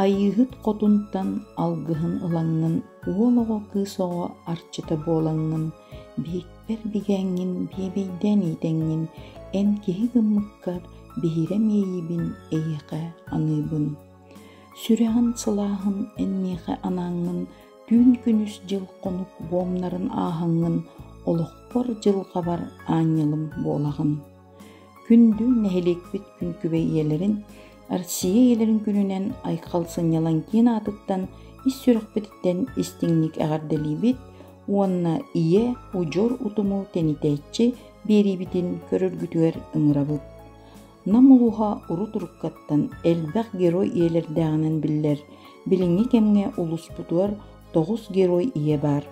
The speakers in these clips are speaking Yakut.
Айыыһыт хотунтан алгыһын ылаҥҥын уол оҕо кыыс оҕо арчыта буолаҥҥын биһикпэр бигээҥҥин биэбэйдээн иитэҥҥин эн киһи гыммыккар биһирэ миэйиибин эйиэхэ аныыбын сүрэҕин сылааһын эн миэхэ анааҥҥын түүн күнүс дьыл-хонук буомнарын ааһаҥҥын олохпор дьылҕабар аанньалым буолаҕын Күндү нэһилиэкпит күҥкүбэй ийэлэрин, Россия ийэлэрин күнүнэн Айхал сынньалаҥ киин аатыттан ис сүрэхпититтэн истиҥник эҕэрдэлиибит уонна ийэ удьуор утуму тэнитээччи биэриибитин көрөргүтүгэр ыҥырабыт. Нам улууһа урут уруккаттан элбэх герой ийэлэрдээҕинэн биллэр, билиҥҥи кэмҥэ улууспутугар тоҕус герой ийэ баар.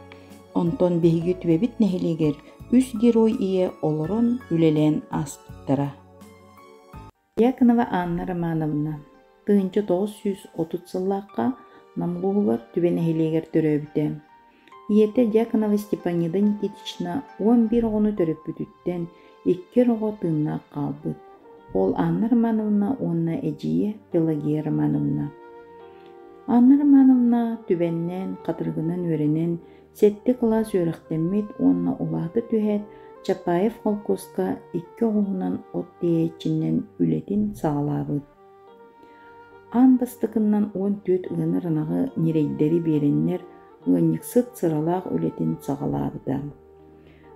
Онтон биһиги түбэбит нэһилиэгэр үс герой ийэ олорон, үлэлээн ааспыттара. Яконова Анна Романовна тыһыынча тоҕус сүүс отут сыллаахха Намлуһугар түбэ нэһилиэгэр төрөөбүтэ. Ийэтэ Дьяконова Степанида Никитична уон биир оҕону төрөппүтүттэн икки оҕо тыыннаах хаалбыт. Ол Анна Романовна уонна эдьиийэ Пелагия Романовна. Анна Романовна түбэннээн, хатырыгынан үөрэнэн, Сэттэ кылаас үөрэхтэммит уонна улаата түһээт, Чапаев холкуоска икки оҕуһунан от тиэйээччинэн үлэтин саҕалаабыт. Аан бастакыннан уон түөрт ыаны ыранаҕы ньирэйдэри биэрэннэр, ыанньыксыт сыралаах үлэтин саҕалаабыта.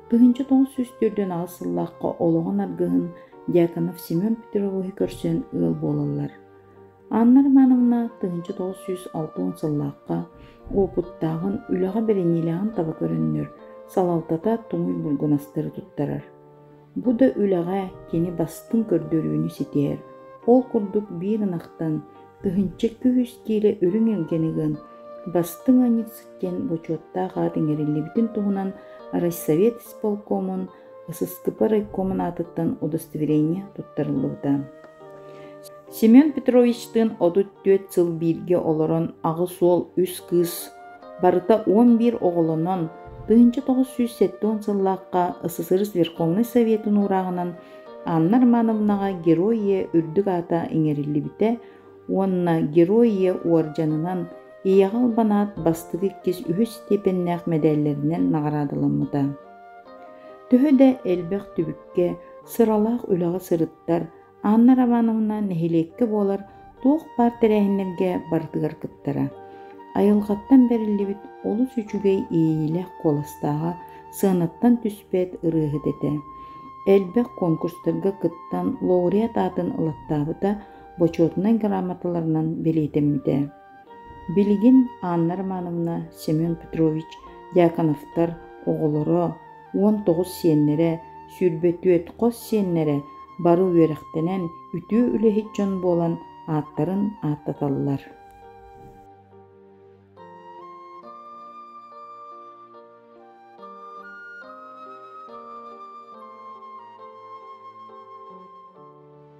Тыһыынча тоҕус сүүс төрдүөн аҕыс сыллаахха олоҕун аргыһын Дьяконов Семен Петровиһы көрсөн ыал буолаллар. Анна Романовна тыһыынча тоҕус сүүс алта уон сыллаахха уопуттааҕын, үлэҕэ бэриниилээҕин таба көрөннөр, салалтата туҥуй булгунастары туттарар. Бу да үлэҕэ кини бастыҥ көрдөрүүнү ситиһэр. Ол курдук биир ынахтан тыһыынча күүс киилэ үрүҥ илгэни ыган, бастыҥ аньык сиккэн бочуоттаах аат иҥэриллибитин туһунан райсовет исполкомун Сыстыпа райкомун аатыттан удостоверение туттарыллыбыта. Семен Петровичтыын отут түөрт сыл бииргэ олорон аҕыс уол үс кыыс барыта уон биир оҕолонон тыһыынча тоҕус сүүс сэттэ уон сыллаахха СССР Верховный Советын уурааҕынан Анна Романовнаҕа Герое үрдүк аата иҥэриллибитэ уонна Герое уордьанынан Ийэҕэ албанаат бастакы иккис үһүс степеннээх мэдээллэринэн наҕараадаламмыта. Төһө да элбэх түбүккэ, сыралаах үлэҕэ сырыттар, Анна Романовна нэһилиэккэ буолар туох баар тэрээһиннэргэ барытыгар кыттара. Айылҕаттан бэриллибит олус үчүгэй иэйиилээх куоластааҕа сыанаттан түспэт ырыаһыт этэ. Элбэх конкурстарга кыттан лауреат аатын ылаттаабыта бочуотунай грамоталарынан бэлиэтэммитэ. Билигин Анна Романовна, Семен Петрович Дьяконовтар оҕолоро уон тоҕус сиэннэрэ, сүүрбэ түөрт хос сиэннэрэ бары үөрэхтэнэн үтүө үлэһит дьон буолан ааттарын ааттаталлар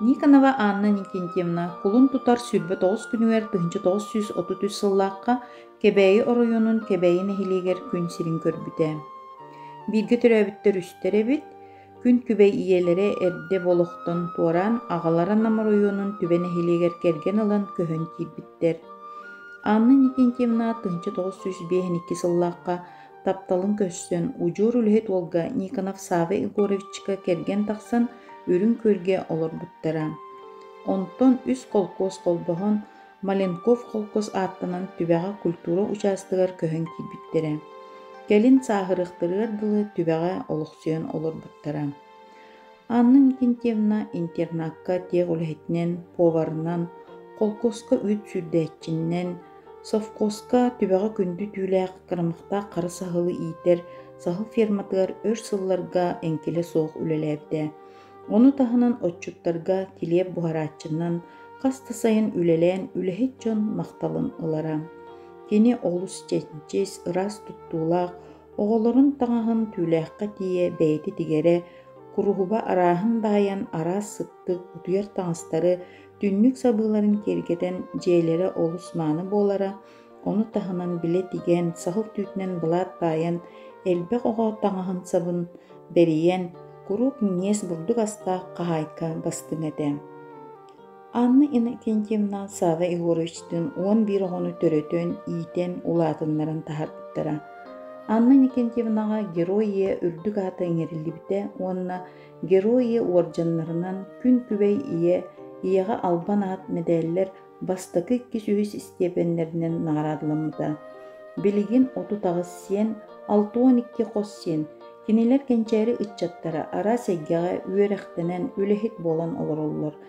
Никонова Анна Никентьевна кулун тутар сүүрбэ тоҕус күнүгэр тыһыынча тоҕус сүүс отут үс сыллаахха Кэбээйи оройуонун Кэбээйи нэһилиэгэр күн сирин көрбүтэ. Бииргэ төрөөбүттэр үстэр эбит. Күн күбэй ийэлэрэ эрдэ олохтон туораан аҕалара Нам оройуонун түбэ нэһилиэгэр кэргэн ылан көһөн киирбиттэр. Анна Никентьевна тыһыынча тоҕус сүүс биэһин икки сыллаахха тапталын көрсөн удьуор үлэһит уолга Никонов Савва Егоровичка кэргэн тахсан үрүҥ күөлгэ олорбуттара. Онтон үс холкуос холбоһон Маленков холкуос ааттанан түбэҕэ культура учаастагар көһөн киирбиттэрэ. Кэлин сааһырыахтарыгар дылы түбэҕэ олохсуйан олорбуттара. Анна Викентьевна интернакка тех үлэһитинэн, поварынан, холкуоска үүт сүүрдээччинэн, совхозка түбэҕэ күндү түүлээх кырамахтаах хара саһылы иитэр саһыл ферматыгар өр сылларга эҥкилэ суох үлэлээбитэ. Ону таһынан отчуттарга килиэп буһарааччынан хас да сайын үлэлээн үлэһит дьон махталын ылара. Кини олус чэнчис, ыраас туттуулаах, Оҕолорун таҥаһын түүлээххэ тиийэ бэйэтэ тигэрэ, куруһуба арааһын баайан араас сыттык, утуйар таҥастары, түннүк сабыыларын киэргэтэн дьиэлэрэ олус мааны буолара, ону таһынан билэ тигэн, саһыл түүтүнэн былаат баайан, элбэх оҕо таҥаһын-сабын бэрийэн, куруук миниэс бурдук астаах хаһаайка бастыҥ этэ. Анна Иннокентьевна Сава Егоровичтыын уон биир оҕону төрөтөн, иитэн, улаатыннаран таһаарбыттара. Анна Иннокентьевнаҕа «Герое» үрдүк аата иҥэриллибитэ уонна «Герое» уордьаннарынан «Күн күбэй ийэ», «Ийэҕэ албан аат» мэдээллэр бастакы иккис үһүс истиэпэннэринэн наҕараадаламмыта. Билигин отут аҕыс сиэн, алта уон икки хос сиэн, кинилэр кэнчээри ыччаттара араас эйгэҕэ үөрэхтэнэн, үлэһит буолан олороллор.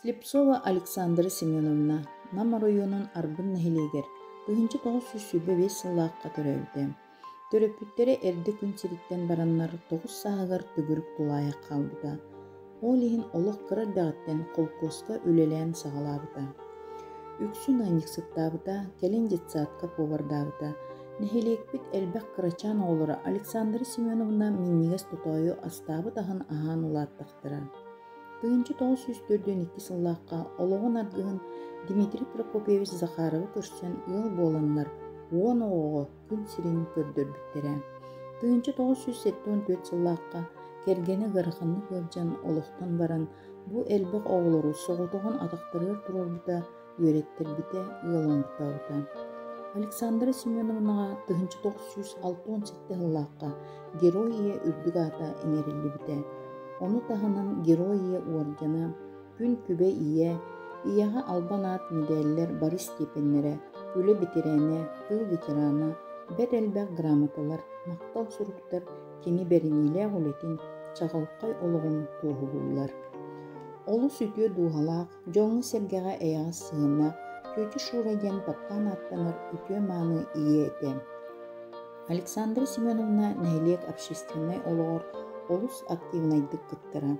Слепцова Александра Семеновна Нам оройуонун Арбын нэһилиэгэр тыһыынча тоҕус сүүс сүүрбэ биэс сыллаахха төрөөбүтэ. Төрөппүттэрэ эрдэ күн сириттэн бараннар тоҕус сааһыгар төгүрүк тулаайах хаалбыта. ол иһин олох кыра эрдэҕиттэн холкуоска үлэлээн саҕалаабыта. Үксүн анньыксыттаабыта, кэлин детсадка повардаабыта. Нэһилиэкпит элбэх кырачаан оҕолоро Александра Семеновна минньигэс тотоойу астаабыт аһын аһаан улааттахтара. Тыһыынча тоҕус сүүс төрдүөн икки сыллаахха олоҕун аргыһын Дмитрий Прокопьевич Захаровы көрсөн ыал буоланнар уон оҕоҕо күн сирин көрдөрбүттэрэ. Тыһыынча тоҕус сүүс сэттэ уон түөрт сыллаахха кэргэнэ ыараханнык ыалдьан олохтон баран бу элбэх оҕолору соҕотоҕун атахтарыгар туруорбута, үөрэттэрбитэ, ыалыммыттаабыта. Александра Семеновнаҕа тыһыынча тоҕус сүүс алта уон сэттэ сыллаахха Герой ийэ үрдүк аата иҥэриллибитэ. Ону таһынан Герой ийэ уоргана Күн күбэ ийэ, ийэҕэ албан аат мэдээллэр бары степеннэрэ, үлэ бэтэрээнэ, тыл ветерана, бэрт элбэх грамоталар, махтал суруктар кини бэриниилээх үлэтин, чаҕылхай олоҕун туоһулууллар. Олус үтүө дууһалаах, дьоҥҥо-сэргэҕэ эйэҕэс сыһыана Тетя Шура диэн таптаан ааттанар үтүө-мааны ийэ этэ. Александра Семеновна нэһилиэк общественнай олоҕор олус активнайдык кыттара,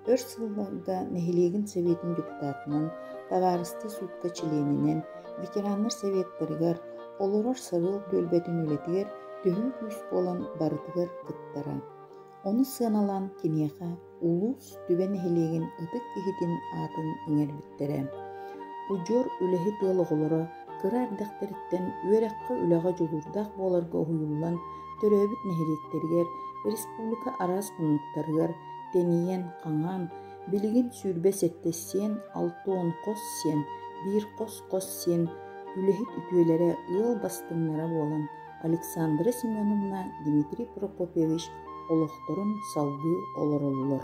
Өр сылларга нэһилиэгин Сэбиэтин депутатынан, табаарыстыы суукка чилиэнинэн, ветераннар сэбиэттэригэр, олорор Сарыал түөлбэтин үлэтигэр төһүү күүс буолан барытыгар кыттара. Ону сыаналаан киниэхэ улуус Түбэ нэһилиэгин ытык киһитин аатын иҥэрбиттэрэ. Удьуор үлэһит ыал оҕолоро кыра эрдэхтэриттэн үөрэххэ-үлэҕэ дьулуурдаах буоларга уһуйуллан төрөөбүт нэһилиэктэригэр, республика араас муннуктарыгар тэнийэн, хаҥаан, билигин сүүрбэ сэттэ сиэн, алта уон хос сиэн, биир хос-хос сиэн үлэһит үтүөлэрэ ыал бастыҥнара буолан Александра Семеновна, Дмитрий Прокопьевич олохторун салгыы олороллор.